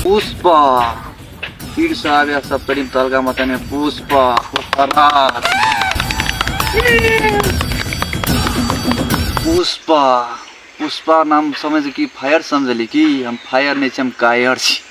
पुष्पा फिर से आ गया सब करीब तलगा मत में पुष्पा पुष्पराज पुष्पा पुष्पा नाम समझ की फायर समझली की हम फायर नहीं छी हम कायर छी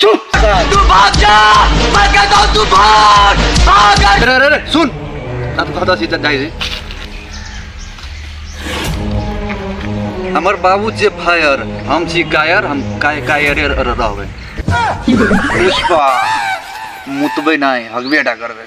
चुप तू भाग जा मैं कहता हूँ तू भाग भाग अरे अरे अरे सुन ना तो कहता सीता जाई रे हमर बाबू जे फायर हम छी कायर हम काय कायरे र- र- रहबै पुष्पा मुतबै नहीं हगबे टा करबै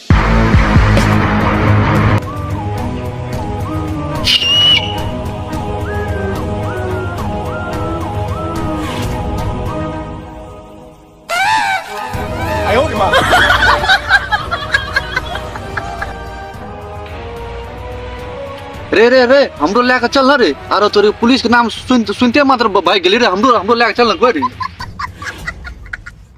रे रे रे हमरो लए के चल न रे आरो तोरे पुलिस के नाम सुन सुनते मात्र भाग गेली रे हमरो हमरो लए के चल न कोई रे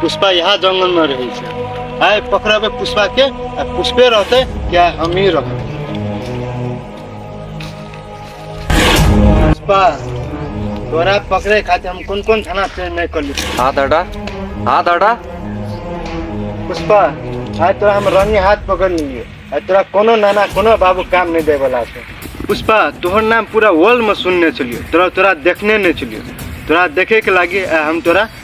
पुष्पा यहाँ जंगल में रहे छै आय पकड़बे पुष्पा के आ पुष्पे रहते क्या हम ही रहते पुष्पा तोरा पकड़े खातिर हम कौन कौन थाना से नहीं कर ली हाथ हटा हाथ हटा पुष्पा आज तोरा हम रंगे हाथ पकड़ लिए आ तोरा कोनो नाना कोनो बाबू काम नहीं दे वाला छै पुष्पा तोहर नाम पूरा वर्ल्ड में सुनने छलियो तोरा तोरा देखने नहीं छलियो तोरा देखे के लागी आ हम तोरा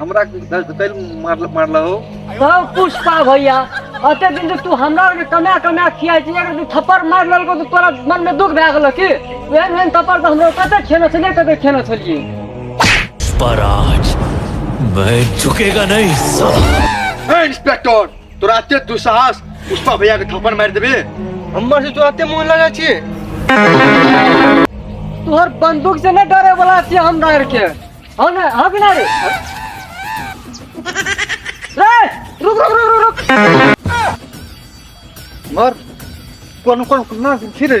हमरा कल मारल मारल हो तो पुष्पा भैया अते दिन से तू हमरा के कमा कमा खिया छी अगर तू थप्पड़ मार ललको तो तोरा मन में दुख भए गेल की ओहन ओहन थप्पड़ तो हमरा कते खेने छलिए कते खेने छलिए पर आज मैं झुकेगा नहीं साला ए इंस्पेक्टर तोरा एते दुस्साहस पुष्पा भैया के थप्पड़ मारि देबे हमर से तोरा एते मोन लगा छिए तोहर बंदूक से न डरे वाला छिए हम डर के हो ना हां बिना रे रे रुक रुक रुक रुक रुक मर कोन कोन ना फिरे